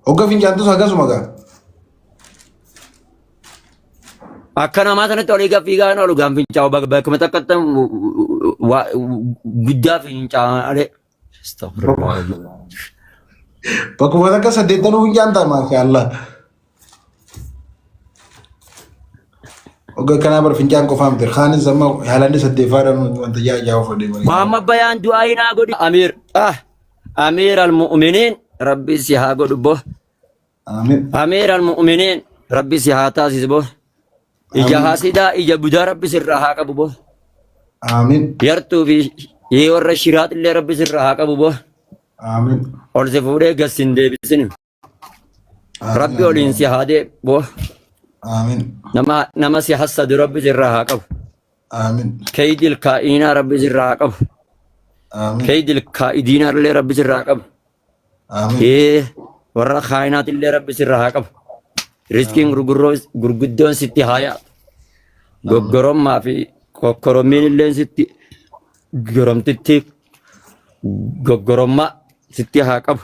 Hogga fincaantus akkasuma gaa. Akka namaa sanatti olii gad fiigaa hin oolu gaafa fincaa'u bakka bakkuma takkatti waa- guddaa fincaa'alee. Bakkuma takka saddeettanuu fincaan ta'a maashaallah. Oga kanaa bar fincaan qofaa miti. Kaanis amma haalaan isa deefaadhaan wanta yaa yaa of adeemaa. Muhammad Bayaan du'aa hin haa godhi. Amiir. Ah. Amiir al-mu'miniin rabbi si haa godhu bo. Amiin. Amiir al-mu'miniin rabbi si haa taasisu bo. Ija Amiin. haasidaa ija budaa rabbi sirraa haa qabu bo. Amiin. Yartuu fi yee warra shiraat illee rabbi sirraa haa qabu bo. Amiin. Ol si fuudhee gas hin deebisinu. Rabbi Amiin. waliin si haa deebi'u. Amiin. Nama nama si hassadu Rabbi sirraa haa qabu. Amiin. Keeydil kaa'inaa Rabbi sirraa haa qabu. Amiin. Keeydil kaa'idiinaa illee Rabbi sirraa haa qabu. Amiin. Ee warra kaa'inaati illee Rabbi sirraa haa qabu. Riskiin gurgurroo gurguddoon sitti haa yaa'u. Goggorommaa fi kokkorommiin illee sitti goromtitti goggorommaa sitti haa qabu.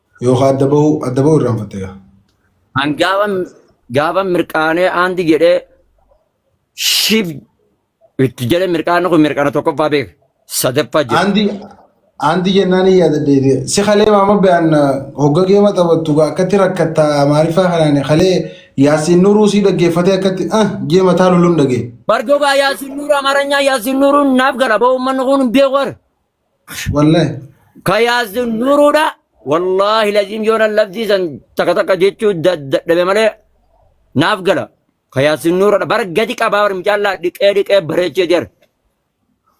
Yookaan adda bahuu adda bahuu irraanfatte gaa. An gaaban gaaban mirqaanee aandi jedhee shiif itti jedhee mirqaanni kun mirqaana tokkoffaa beeka. Sadaffaa jira. Aandi aandi jennaan hin yaada deebi'e. Si kalee maama be'an hogga geema taphattu gaa akkatti rakkatta maariffaa kanaan kalee yaasiin nuruu sii dhaggeeffatee akkatti ah jee mataa lulun dhagee. Bardogaa yaasin nuura amaranyaa yaasin nuuruun naaf gala ba'u ummanni kun hin beeku warra. Wallahi. Ka yaasin nuruudha. Wallaahi laziim yoonan labsii san takka takka jechuu dadhabe malee naaf gala. Ka yaasin nuruudha. Bara gadi qabaa bara mucaallaa dhiqee dhiqee bareechee jira.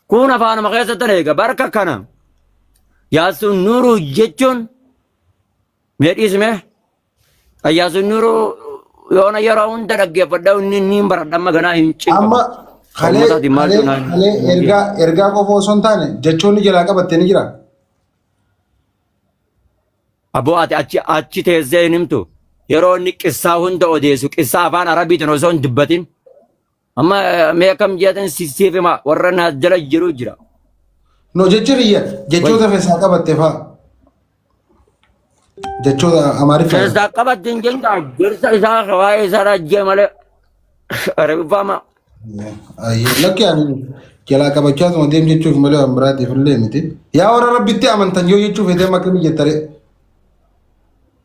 Kun afaanuma keessatti na eega. Barka kana yaasin nuruu jechuun mee dhiisime Ayyaasuun Nuuruu yoona yeroo hunda dhaggeeffadha inni inni hin baradha amma ganaa hin cinqamu. Amma kalee Ummataati maal kalee jenaan? kalee ergaa ergaa qofa osoo hin taane jechoonni jalaa qabatte ni jira. Aboo ati achi achi teessee hin himtu. Yeroo inni qissaa hunda odeessu qissaa afaan arabiitiin osoo hin dubbatin Amma eh, mee akkam jeetan si- siif himaa warra naas jala jiru jira. No jechi kiyya jechoota Wayyi. keessaa qabatte fa'a. Jechoota Amaariffaa. Keessaa qabatte hin jenna gorsa isaa waa'ee isaa rajjee malee arabifaama. Ayyee lakki ani jalaa qabachaa tuma deem jechuuf malee waan biraatiif illee miti. Yaa warra rabbitti amantan yoo jechuuf edeem akkamii jettare.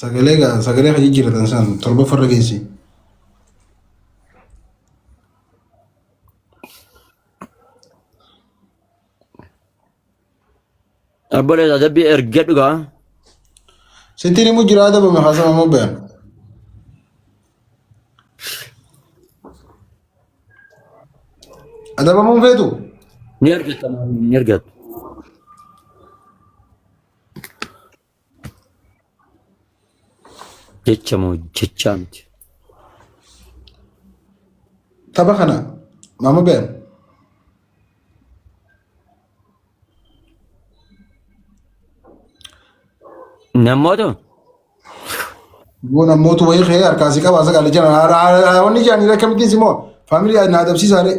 Sagalee gaa sagalee kan jijjiiratan san torba farra geessi. Abboleessa adabbii erga dhugaa. Sittiin immoo jira adabame haasama immoo bayan. Adabamuun feetu Ni argatta ni argatta. Jecha moo jechaa miti. Tapha kana maama beekan. Namoota Boo namoota wayii kee harkaa si qabaasa gaala jana. Wanni jaanii rakkamittiin si moo faamilii na adabsiisaalee.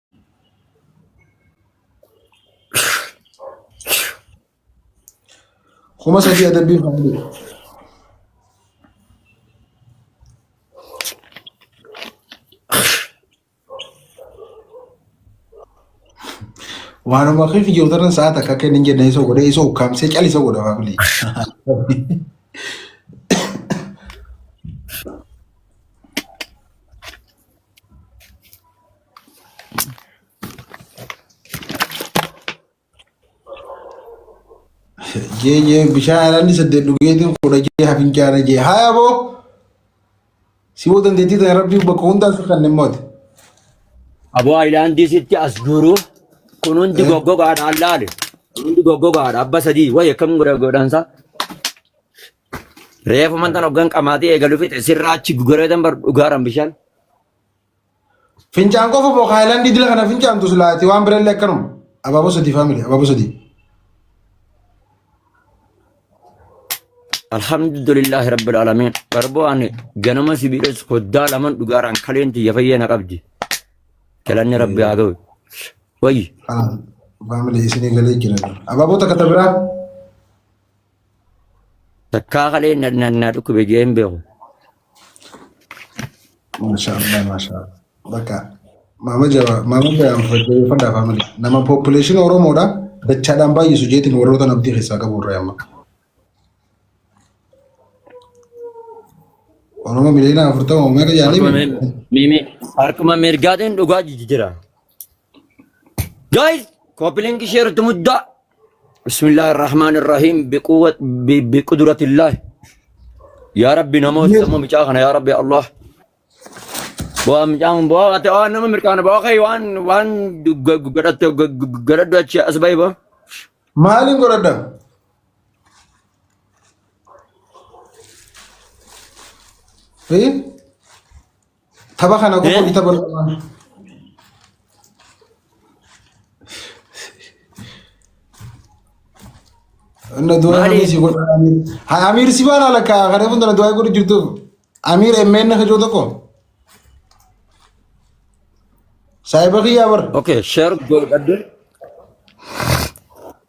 kuma sadii adabbiin haa bulu. Waanuma kee fi jirtan sa'aat akka akka hin jenne isa godhee isa ukkaamsee cal isa godha maamile. jee jee bishaan alanni saddeet dhugeetiin kudha jee hafincaana jee haya boo si boo dandeettii ta'e rabbii bakka hundaa si kan dhimmooti. Aboo Ayilaandii sitti as guuru kun hundi goggogaadhaan laale. Kun hundi goggogaadha abba sadii wayi akkam godha godhansa. Reefu mantan hoggan qamaatee eegalu fixe sirraa achi gugaradan bar dhugaadhaan bishaan. Fincaan qofa moo Haayilaandii dila kana fincaantu silaa ati waan birallee akkanuma. Abaaboo sadii faamili abaaboo sadii. Alhamdulillah Rabbil Alamin. Barboo ani ganama sibiiles hoddaa laman dhugaaraan kaleen tiyya fayyee na qabdi. Galanni Rabbi haa ta'u. Wayyi. Faamili isinii galee jira. Abaaboo takka ta biraa. Takkaa kaleen na dhukkube jeen beeku. Mashallah, mashallah. Bakka maama jabaa, maama bayaan fayyadeeffadha faamili. Nama population Oromoodha. Dachaadhaan baay'isu jeetiin warroota namtii keessaa qabu irraa amma. Oromoo miliyoona afurtama uummata Harkuma jaanii. mir- Mimi, harkuma mirgaatiin dhugaa jijjiira. Guys, copy link share to mudda. Bismillah ar-Rahman ar-Rahim biquwwat bi- biqudratillah. Ya Rabbi namoota Yes. sammuu micaa kana ya Rabbi Allah. Bu'aa micaan bu'aa ati waan nama mirkaana bu'aa kee waan waan gadhatte gadhaddu achi as bahi bu'aa. Maaliin godhadha? Fi? Tapha kana Eh? qofa gita bal'aa. Inna du'a Maali? Amiir si godha Amiir. Ha Amiir si baala lakka kana kun tana du'a godhu jirtu. Amiir emmeen na hajoo tokko. Saayiba kiyyaa bar. Okay, share godhadhu.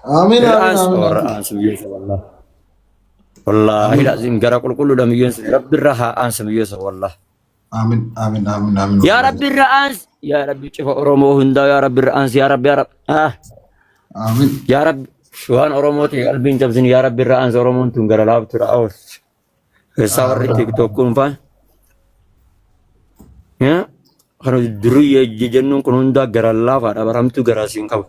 Amiin Hin amiin aansu amiin warra amiin. aansu biyyeessa wallah. Wallaahi Amiin laziim gara qulqulluudha biyyeessa rabbi irra haa aansa biyyeessa wallah. amiin amiin amiin amiin Yaa wallaahi. rabbi irra aansi. Yaa rabbi cifa Oromoo hundaa yaa rabbi irra aansi yaa rabbi yaa rabbi. Ah, Amiin. Yaa rabbi waan Oromooti qalbiin cabsin yaa rabbi irra aansi Oromoon tun gara laaftuudha oolchi. Keessaa warri Amiin. tiktok kun faan. Yaa kan durri jennuun kun hundaa gara laafaadha baramtuu gara siin qabu.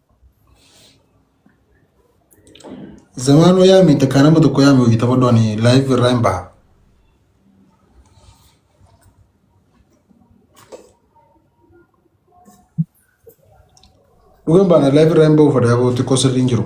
Zamaanoo yaami takkaa nama tokko yaami hojii taphadhu ani live irraa hin baha. Dhugan baana live irraa hin bahu fadaa boo xiqqoo sirrii hin jiru.